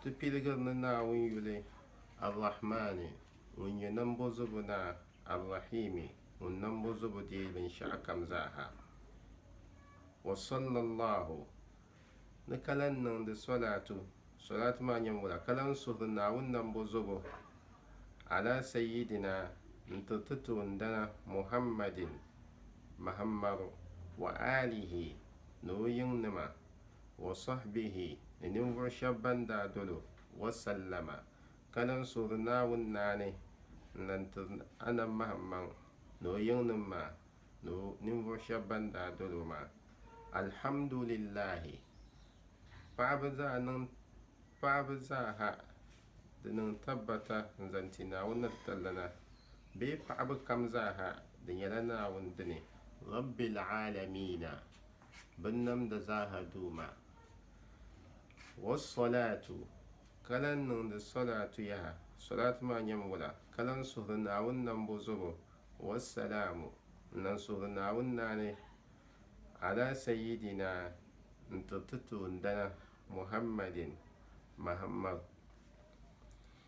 Ti piligiri ni Naawuni yuli, Ar-Rahmaani, Ŋun nyɛ Nambɔzobo Naa, Ar-Rahiimi, Ŋun Nambɔzobo deei binshɛɣukam zaaha. Wa sallallahu, ni ka lan niŋdi solaatu, solaatu maa nyɛmbola, ka lan suhiri Naawuni Nambɔzobo, ala Sayyidina, n-tiri ti toondana Muhammadin, Mahammaru, wa aalihi, ni o yiŋnima. wa sɔhbihi ni ninvuɣu shɛba ban daa dol o, wa sallama, ka lan suhiri Naawuni naani n-lan tiri Anab Mahimmaŋ ni o yiŋnim maa ni o ninvuɣu shɛba ban daa dol o maa. Alhamdulillahi! Paɣiba zaa niŋ paɣiba zaa ha di niŋ tabbata n-zaŋ ti Naawuni ni di tallana, bee paɣiba kam zaa ha di nyɛla Naawuni dini. Rabbil Aalamiina! binnamda zaaha duu maa, wassolaatu, ka lan niŋdi solaatu yaha, solaatu maa nyɛm wula, ka lan suhiri Naawuni nambo zobo, wassalaamu, n lan suhiri Naawuni naani, ala sayyidina, n tiri ti toondana, Muhammadin, Mahammadu.